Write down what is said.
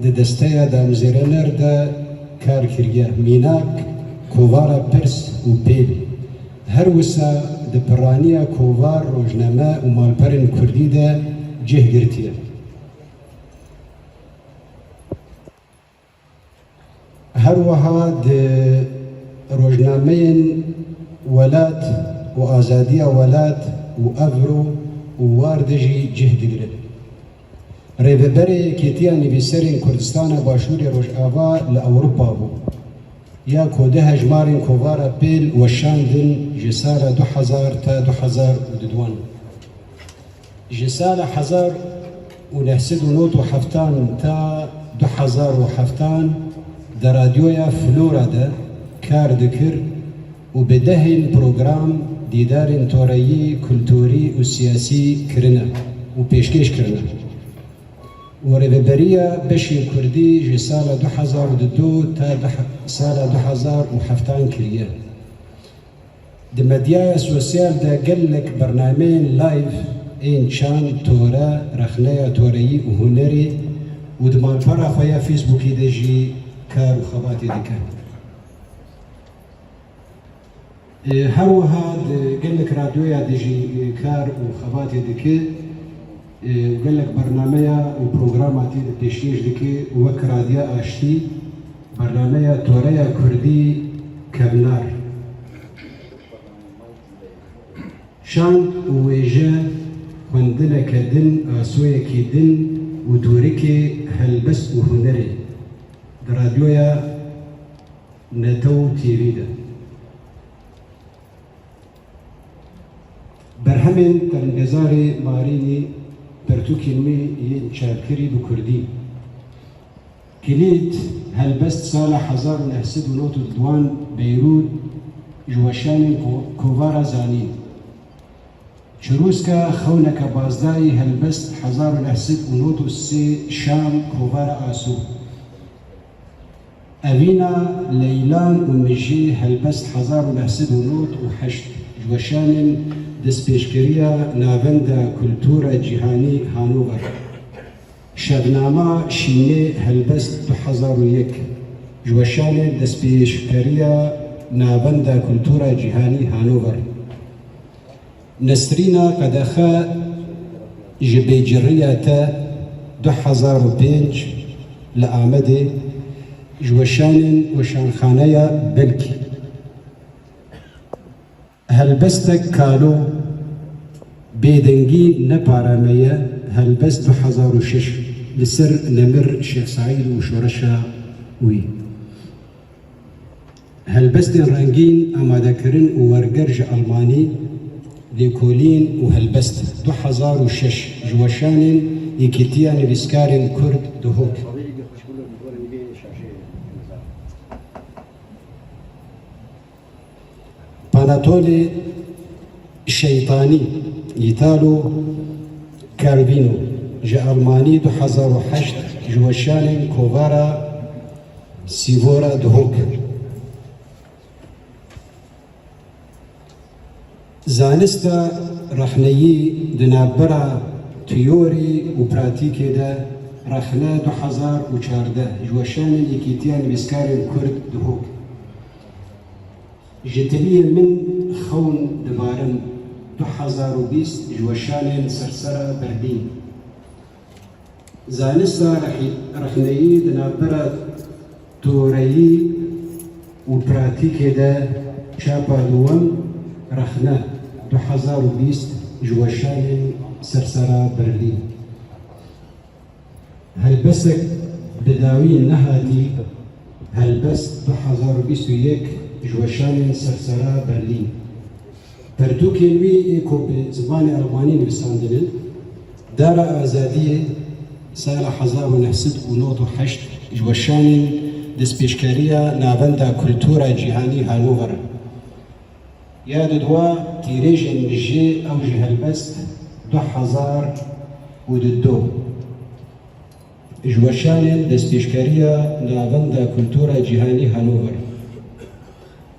di desteya damjêrener de kar kiriye, mînak, kovara pirs û pêl. Her wisa di piraniya kovar, rojname û malperên kurdî de cih girtiye. Her wiha di rojnameyên welat û azadiya welat û evro û war de jî cih digire. Rêveberê Yekêtiya Nivîserên Kurdistana Başûrê Rojava li Ewropa bû, ya ku di hejmarên kovara pêl weşandin ji sala du hezar ta du hezar û du wan. Ji sala hezar û neh sed û nod û heftan ta du hezar û heftan di radyoya Flora de kar dikir û bi dehên program dîdarên toreyî, kulturî û siyasî kirine û pêşkêş kirine û rêveberiya beşê kurdî ji sala du hezar û du ta sala du hezar û heftan kiriye. Di medyaya sosyal de gelek bernameyên live ên çand, tore, rexneya toreyî û hunerê û di malpera xwe ya Facebookê de jî kar û xebatê dikin. Her wiha di gelek radyoya de jî kar û xebatê dike. Gelek bernameya û programa tê de pêşkêş dike wek Radya Aştî, Bernameya Toreya Kurdî Kevnar, Şand û Wêje, Xwendineke Din, Asoyekî Din û Dorikê Helbest û Hunerê di Radyoya Netew TV de. Berhemên Telmgezarê Marînî pertûkên wî yên çarkirî bi kurdî Kilîd helbest sala hezar û neh sed û nod û duan Beyrûd ji weşanên kovara zanîn Çirûska xewneke bazdayî helbest hezar û neh sed û nod û sê Şam kovara Asû. Evîna Leylan û Mijê Helbest hezar û neh sed û nod û heşt ji weşanên destpêşkeriya Navenda Kultura Cîhanî Hanover, Şevnama Şînê Helbest du hezar û yek ji weşanên destpêşkeriya Navenda Kultura Cîhanî Hanover, Nesrîna Qedexe ji bêcirriya te du hezar û pênc li Amedê ji weşanên Weşanxaneya Belkî helbestek kalo bêdengî ne pare me ye helbest du hezar û şeş li ser Nemir Şêx Seîd û şoreşa wî. Helbestên rengîn, amadekirin û werger ji Elmanî, Lêkolîn û Helbest du hezar û şeş, ji weşanên Yekîtiya Nivîskarên Kurd dihok. Panatole Şeytanî, Italo Calvino, ji Elmanî du hezar û heşt, ji weşanên Kovara. Sîvora Dihok e. Zanista rexneyî di navbera tîyorî û pratîkê de Rexne du hezar û çardeh ji weşanên Yekîtiya Nivîskarên Kurd Dihok Ji tiliyê min xewn divarim du hezar û bîst ji weşanên Sirsera Berdîn. Zanista rexneyî di navbera toreyî û pratîkê de çapa dûwem, Rexne, du hezar û bîst, ji weşanên Sersera Berlîn. Helbestek bi dawî nehatî, Helbest du hezar û bîst û yek, ji weşanên Sersera Berlîn. Pirtûkên wî ê ku bi zimanê Elmanî nivîsandin in, Dara Azadiyê, Sala hezar û neh sed û nod û heşt, ji weşanên destpêşkeriya Navenda Kultura Cîhanî Hanover in. Ya di dua tîrêjên mijê ew jî helbest du hezar û du du, ji weşanên destpêşkeriya Navenda Kultura Cîhanî Hanover in.